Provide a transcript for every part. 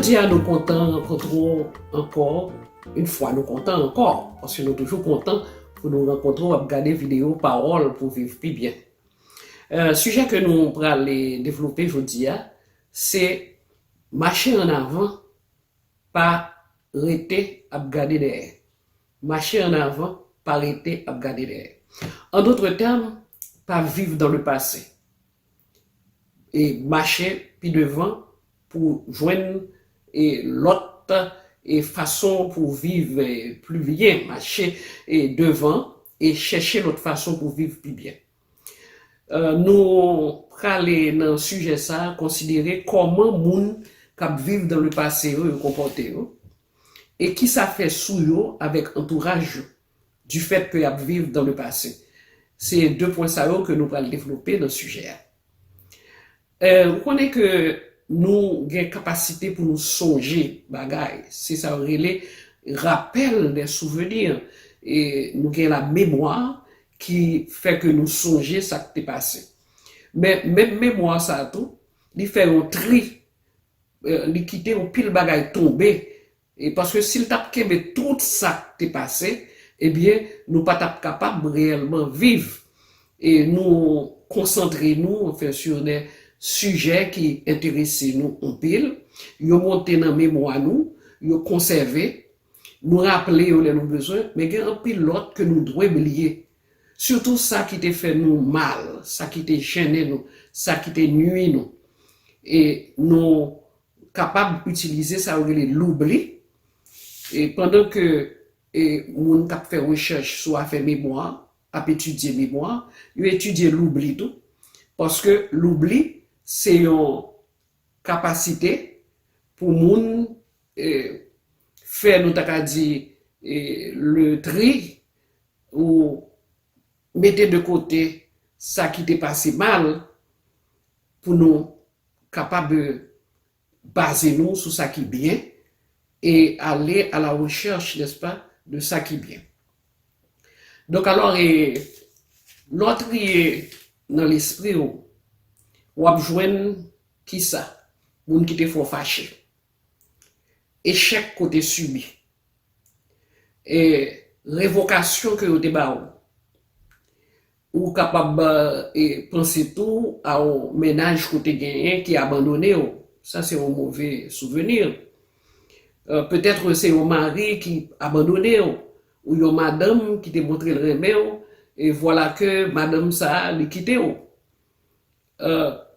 Jodi a nou kontan rankontre w ankò Yon fwa nou kontan ankò paske nou toujou kontan pou nou rankontre w ap gade videyo Pawòl pou viv pi byen Sijè ke nou pral devlope jodi a se Mache ann avan pa rete ap gade dèyè Mache an avan, pa rete ap gade dèyè. En d'autres termes, pa viv dans le passé. E mache pi devan pou w jwenn e lòt e fason pou w viv plu byen. Mache e devan e chèche lòt fason pou viv pi byen. Nou prale nan sijè sa a konsidere kòman moun k ap viv dan le pase yo yo konpòte yo e ki sa fè sou yo avèk antouraj yo difèt ke y ap viv dan le pase. Se de pwen sa yo ke nou pral devlope nan sijè a. Ou konnen ke nou gen kapasite pou nou sonje bagay, se sa yo rele Rappel des souvenirs, e nou gen la memwa ki fè ke nou sonje sa k te pase. Men, menm memwa sa a tou, li fè yon tri, li kite yon pil bagay tonbe E paske si l t ap kenbe tout sa k te pase, ebyen nou pa t ap kapab reyèlman viv e nou konsantre nou anfen sou de sijè ki enterese nou anpil, yo monte nan memwa nou, yo konsève, nou raple yo lè nou bezwen, men gen anpil lòt ke nou dwe bliye. Sitou sa ki te fè nou mal, sa ki te jennen nou, sa ki te nui nou. E nou kapab itilize sa yo rele loubli e pandan ke e moun k ap fè rechèch sou afè memwa ap etidye memwa yo etidye loubli tou paske loubli se yon kapasite pou moun e fè nou ta ka di e le tri ou mete de kote sa ki te pase mal pou nou kapab baze nou sou sa ki byen e ale a la rechèch, n'est-ce pas, de sa ki byen. Donk alò e lè w triye nan lespri w, w ap jwenn kisa? Moun ki te fè w fache. echèk ke w te sibi, e revokasyon ke yo te ba ou. Ou kapab panse tou a yon mennaj ke w te genyen ki abandone w, sa se yon move souveni. Petèt se yon mari ki abandone w, ou yon madanm ki te montre l renmen w, e vwala ke madanm sa li kite w.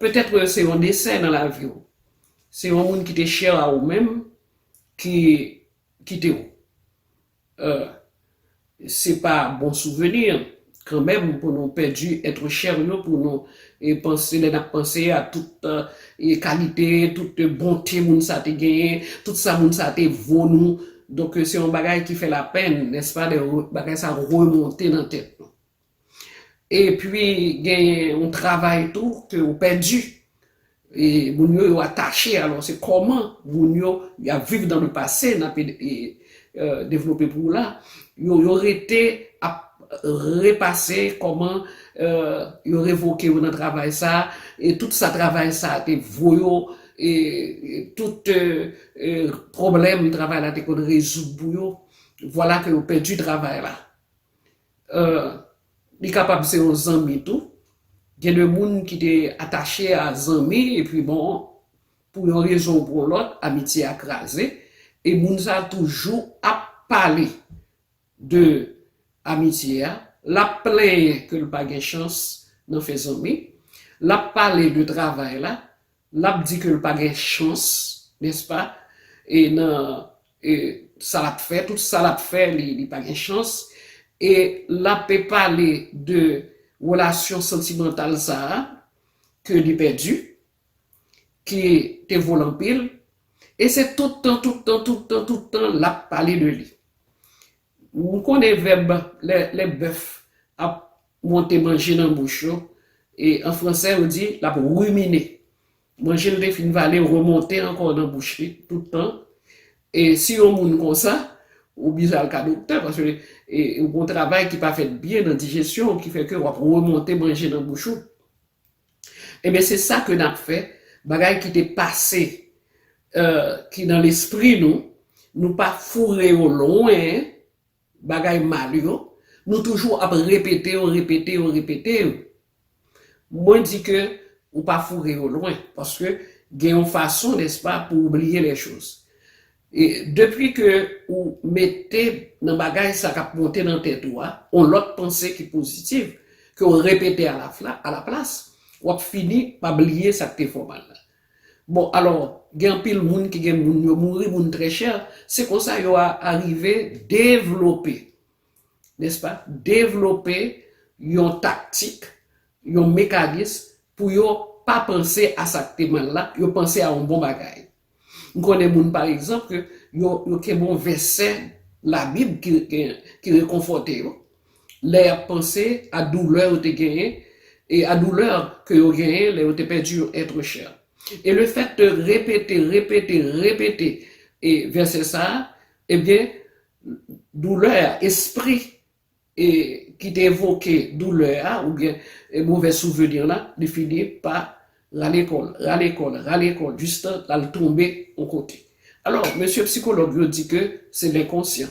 Petètre se yon desè nan lavi w. Se yon moun ki te chè a ou menm ki kite w. Se pa bon souveni kanmenm pou nou pèdi ètre chè yo pou nou panse lè n ap panse a tout kalite, tout bonte moun sa te genyen, tout sa moun sa te vo nou. Donk se yon bagay ki fè lapenn nèspa lè bagay sa remonte nan tèt nou. Epi gen yon travay tou ke ou pèdi. E moun yo yo atache alò se kòman moun yo y ap viv nan le pase n ap devlope pou ou la. Yo yo rete ap repase kòman yo revoke yo nan travay sa a e tout sa travay sa a te vo yo e tout pwoblèm travay la te konn rezoud pou yo. Vwala ke yo pèdi travay la. Li kapab se yon zanmi tou. Gen de moun ki te atache a zanmi epi bon pou yon rezon ou pou yon lòt amitye a kraze e moun sa toujou ap pale de amitye a, l ap plenyen ke l pa gen chans nan fè zanmi, l ap pale de travay la, l ap di ke l pa gen chans, nèspa, e nan. E sa lap fè, tout sa lap fè li pa gen chans e lape pale de relasyon santimantal sa a ke li pèdi ki te vo l anpil e se tout tan, tout tan, tout tan, tout tan lap pale de li. Ou konnen vèb lè bèf ap monte manje nan bouch yo e an fransè yo di lap ruminer. Manje l te fin vale remonte ankò nan bouch li tout tan e si yon moun konsa ou bize al ka doktè paske ou gon travay ki pa fèt byen nan dijesyon w ki fè ke w ap remonte manje nan bouch ou enben se sa ke n ap fè bagay ki te pase ki nan lespri nou nou pa foure yo lwen. Bagay mal yo Nou toujou ap repete yo repete yo repete yo Mwen di ke ou pa foure yo lwen paske gen yon fason nèspa pou ou bliye lè choz e depi ke ou mete nan bagay sa kap monte nan tèt ou a yon lòt panse ki pozitiv ke ou repete alaplas wap fini pa bliye sak te fè w mal la Bon alò gen anpil moun ki gen moun yo mouri moun trè chè se konsa yo a arive devlope nèspa devlope yon taktik yon mekanis pou yo pa panse a sa k te mal la yo panse a yon bon bagay m konnen moun pa egzanp ke yo yo kenbe yon vèsè labib ki rekonfòte yo lè y ap panse a doulè yo te genyen e a doulè ke yo genyen lè yo te pèdi yon etre chè. E le fèt de repete, repete, repete e vèsè sa a, ebyen doulè a, espri e ki te evoke doulè a oubyen movè souvenir la, li fini pa rale kò l, rale kò l, rale kò l jistan l al tonbe yon kote. Alò mesye psikològ yo di ke se lenkonsyan.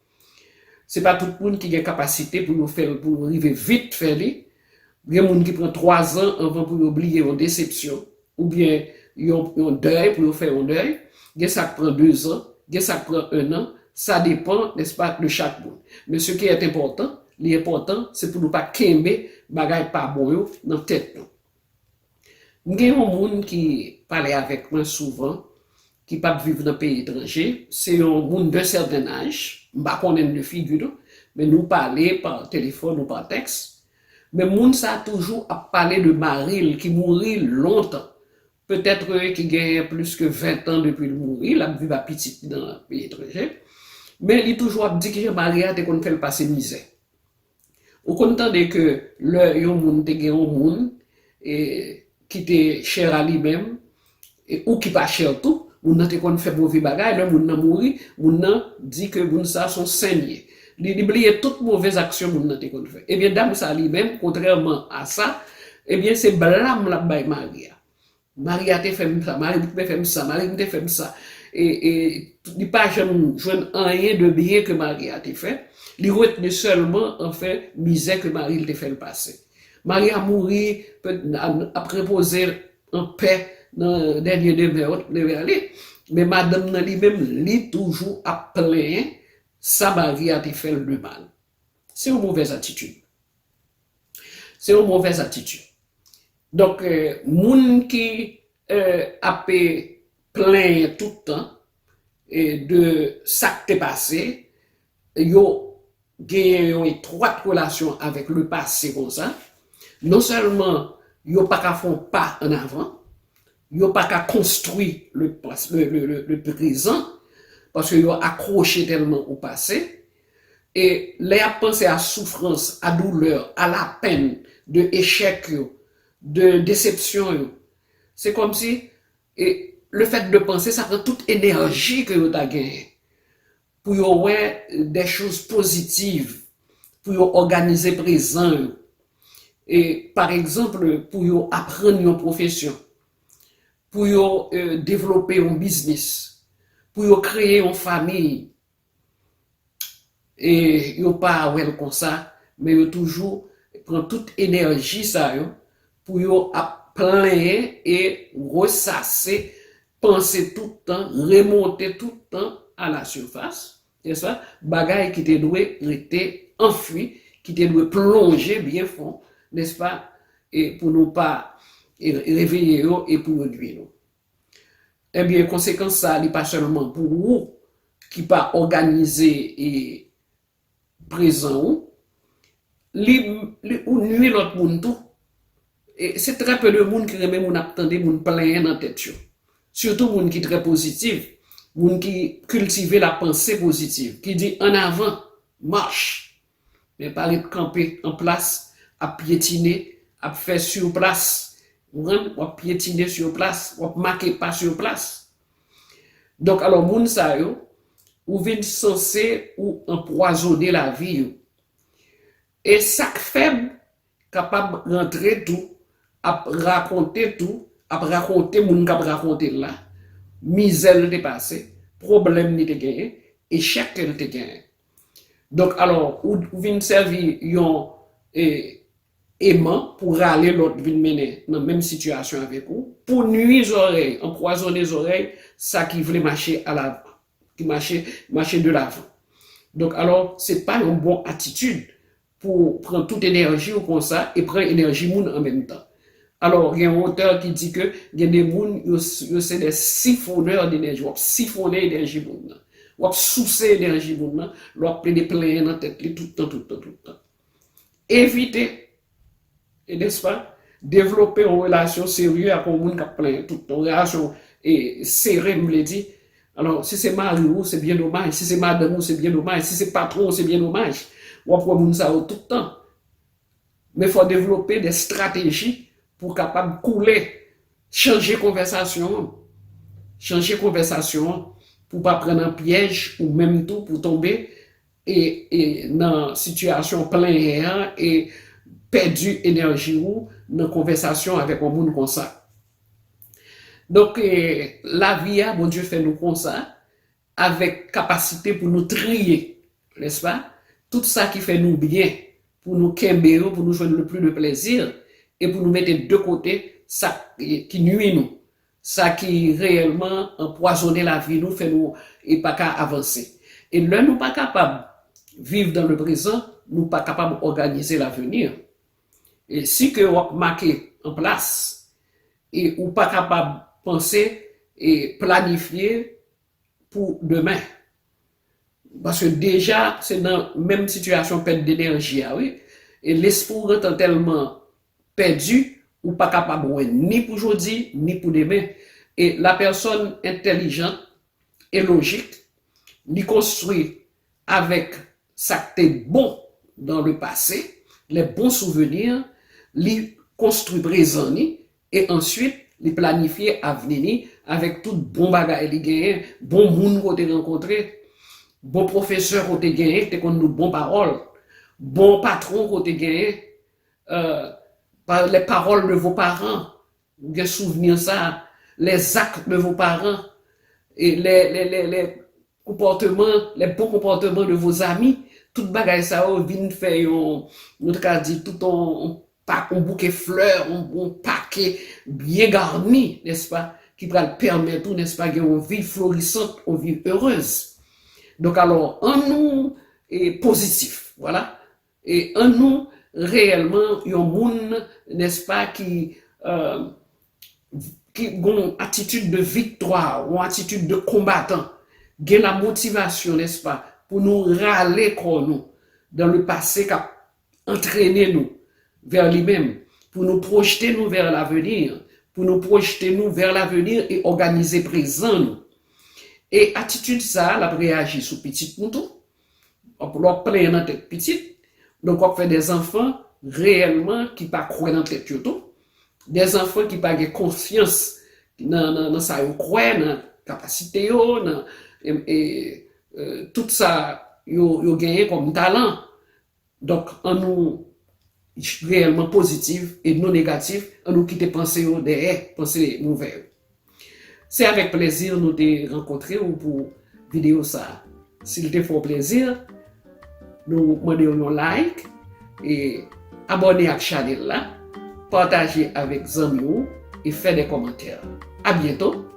Se pa tout moun ki gen kapasite pou yo fè l pou yo rive vit fè li. Gen moun ki pran twazan anvan pou yo bliye yon desepsyon oubyen yon dèy, pou yo fè yon dèy. Gen sa k pran dezan, gen sa k pran ennan, sa depan, nèspa, de chak moun. Men se ki èt enpòtan, li enpòtan, se pou nou pa kenbe bagay pa bon yo nan tèt nou. M gen yon moun ki pale avèk mwen souvan ki pap viv nan peyi etranje, se yon moun d'un certain âge, m pa konnen l de figi non, men nou pale par téléphone ou par texte, men moun sa toujou ap pale de mari l ki mouri lontan, peut être ki genyen plus ke 20 tan depi l mouri, lap viv a pitit li nan peyi etranje, men li toujou ap di kijan mari a te konn fè l pase mizè. Ou konn tande ke lè yon moun te gen yon moun ki te chè a li menm, ou ki pa chè tou, moun nan te konn fè move bagay, lè moun nan mouri, moun nan di ke moun sa se yon sen li ye. Li bliye tout move zaksyon moun nan te konn fè. Ebyen dam sa li menm, kontrèman a sa, ebyen se blam l ap bay mari a. Mari a te fè m sa, mari m te fè m sa, mari m te fè m sa. E li pa janm jwenn anyen de byen ke mari a te fè. Li retni sèlman anfen mizè ke mari l te fè l pase. Mari a mouri, ap repoze an pè nan dènye demè li. Men madanm nan li menm, li toujou ap plenyen sa mari a te fè l de mal. Se yon movèz atitid. Se yon movèz atitid. Donk moun ki ap plenyen tout tan de sa k te pase, yo genyen yon etwat relasyon avèk le pase konsa, non sèlman yo pa ka fè yon pa an avan, yo pa ka konstwi le prezan paske yo akwoche tèlman o pase, E lè yap panse a soufrans, a doulè, a lapenn de echèk yo, de desepsyon yo, se kòmsi e le fèt de panse sa pran tout enèji ke yo ta genyen pou yo wè dè choz pozitiv, pou yo òganize prezan yo. E paregzanp pou yo aprann yon pwofesyon, pou yo devlope yon biznis, pou yo kreye yon famiy, e yo pa wèl konsa men yo toujou pran tout enèji sa yo pou yo ap plenyen e resase panse tout tan remonte tout tan a la surface n'est-ce pas bagay ki te dwe rete anfwi ki te dwe plonje byen fon n'est-ce pas e pou nou pa reveye yo e pou yo nwi nou. Ebyen konsekans sa li pa sèlman pou ou ki pa òganize e prezan ou, li ou nwi lòt moun tou. E se trè pe de moun ki renmen moun ap tande moun plenyen nan tèt yo. Sitou moun ki trè pozitiv, moun ki kiltive la panse pozitiv, ki di ann avan, marche! Men pa ret kanpe an plas ap pyetine, ap fè sur place, konprann, w ap pyetine sur place, w ap make pa sur place. Donk alò moun sa yo, ou vin sanse ou anpwazone lavi yo. E sa k fèb kapab rantre tou ap rakonte tou, ap rakonte moun k ap rakonte l la, mizè l te pase, pwoblèm li te genyen, echèk ke l te genyen. Donk alò ou vin sèvi yon eman pou rale lòt vin mennen nan menm sitiyasyon avèk ou, pou nwi zòrèy, anpwazone zòrèy sa ki vle mache alavan, ki mache, mache de lavan. Donk alò se pa yon bon atitid pou pran tout enèji w konsa e pran enèji moun an menm tan. Alò gen yon otè ki di ke gen de moun yo se des siphonneurs d'energie, wap sifonnen enèji moun nan, wap souse enèji moun nan lè wap plede plenyen nan tèt li tout tan, tout tan, tout tan. Evite. E nespa, devlope yon relasyon serye ak yon moun k ap plenyen tout tan, yon relasyon sere m vle di, alò si se mari ou se byen domaj, si se madanm ou se byen domaj, si se patwon ou se byen domaj, w ap wè moun sa yo tout tan. Men fò w devlope de estrateji pou w kapab koule, chanje konvèsasyon an, chanje konvèsasyon an pou w pa pran nan pyèj ou menm tou pou w tonbe e nan sitiyasyon plenyen an e pèdi enèji ou nan konvèsasyon avèk yon moun konsa. Donk lavi a Bondye fè nou konsa avèk kapasite pou nou triye, nèspa, tout sa ki fè nou byen pou nou kenbe yo pou nou jwenn le pli de plèzi e pou nou mete de kote sa ki nui nou. Sa ki reyèlman anpwazonnen lavi nou, fè nou pa ka avanse. E lè nou pa kapab viv dan le prezan, nou pa kapab òganize laveni. E si ke w ap make an plas, e ou pa kapab panse e planifye pou demen. Paske deja se nan menm sitiyasyon pèt denèji a wi. E lespri w gentan tèlman pèdi, ou pa kapab wè ni pou jodi, ni pou demen. E lapèsòn entèlijant e lojik, li konstwi avèk sa k te bon dan le pase, lè bon souveni, li konstwi prezan li, E answit, li planifye avni li avèk tout bon bagay li genyen, bon moun ke w te rankontre, bon pwofesè ke w te genyen ki te konn nou bon pawòl, bon patwon ke w te genyen, eeh, les paroles de vos parents, ou gen souvni sa, les actes de vos parents, les, les, les, les, Konpòteman, les bons comportements de vos amis, tout bagay sa yo vin fè yon, nou ta ka di tout yon pa, yon bouke flè, yon pake byen garni, nèspa, ki pral pèmèt ou, nèspa, gen yon vi florisant, yon vi heureuse. Donk alò, an nou pozitif, vwala, E an nou reyèlman yon moun, nèspa, ki gen yon atitid de viktwa, yon atitid de konbatan, gen la motivasyon, nèspa, pou nou rale kò nou dan le pase k ap antrene nou vè li menm, pou nou pwojte nou vè laveni, pou nou pwojte nou vè laveni e òganize prezan nou. E atitid sa a, l ap reyaji sou pitit nou tou, Lè wap plenyen nan tèt pitit, donk wap fè de zanfan reyèlman ki pa kwè nan tèt yo tou, de zanfan ki pa gen konfyans nan sa yo kwè, nan kapasite yo, nan tout sa yo genyen kòm talan. Donk an nou reyèlman pozitiv e non negatif, an nou kite panse yo dèyè, panse movè yo. Se avèk plezi nou te rankontre ou pou videyo sa. Si li te fè w plezi, nou mande w yon like e abòne ak chanèl la, pataje avèk zanmi w e fè de kòmantè. A byento!